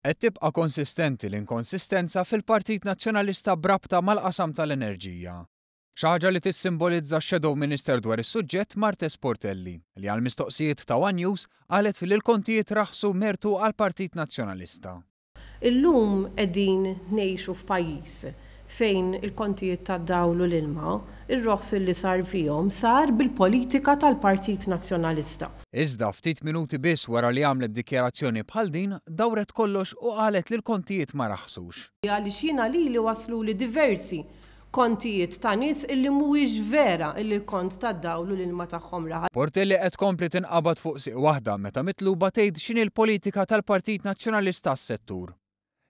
Qed tibqa' konsistenti l-inkonsistenza fil-Partit Nazzjonalista b'rabta mal-qasam tal-enerġija. Xi ħaġa li tissimbolizza x-Shadow Minister dwar is-suġġett Martes Portelli, li għall-mistoqsijiet ta' one News qalet li l-kontijiet raħħsu mertu għall-Partit Nazzjonalista. Illum qegħdin ngħixu f'pajjiż fejn il-kontijiet tad-dawl u l-ilma, ir-roħs li sar fihom sar bil-politika tal-Partit Nazzjonalista. Iżda ftit minuti biss wara li għamlet dikjarazzjoni bħal din, dawret kollox u qalet li l-kontijiet ma raħsux. Għaliex jiena lili wasluli diversi kontijiet ta' nies illi mhuwiex vera illi l-kont tad-dawl u l-ilma tagħhom raħas. Portelli qed tkompli tinqabad fuq sieq waħda meta mitluba tgħid x'inhi l-politika tal-Partit Nazzjonalista għas-settur.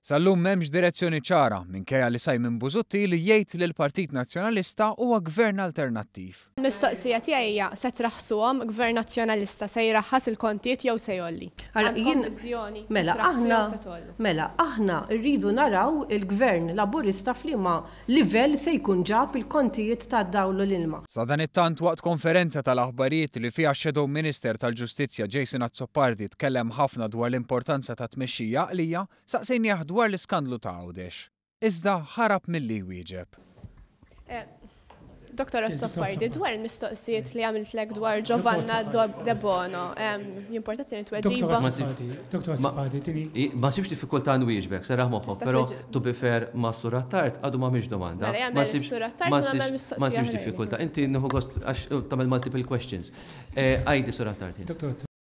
Sal-lum m'hemmx direzzjoni ċara, minkejja li Simon Busuttil jgħid li l-Partit Nazzjonalista huwa Gvern alternattiv. Il-mistoqsija tiegħi hija, se traħħsuhom, Gvern Nazzjonalista se jraħħas il-kontijiet jew se jgħolli? Għandkom viżjoni, se traħħsu jew se tgħollu? Mela, aħna rridu naraw il-Gvern Laburista f'liema livell se jkun ġab il-kontijiet tad-dawl u l-ilma. Sadanittant, waqt konferenza tal-aħbarijiet li fiha x-Shadow Minister tal-Ġustizzja Jason Azzopardi tkellem ħafna dwar l-importanza ta' tmexxija għaqlija, staqsejnieh dwar l-iskandlu ta' Għawdex. Iżda ħarab milli jwieġeb. Dottor Azzopardi, dwar il-mistoqsijiet li għamiltlek dwar Giovanna Debono, jimporta tieni tweġiba. Dottor Azzopardi, tieni. Ma sibx diffikultà nwieġbek, serraħ moħħok, però to be fair ma' Sur Attard għadu m'għamilx domanda. Ma sibx diffikultà. Inti nieħu gost għax tagħmel multiple questions. Għidi, Sur Attard.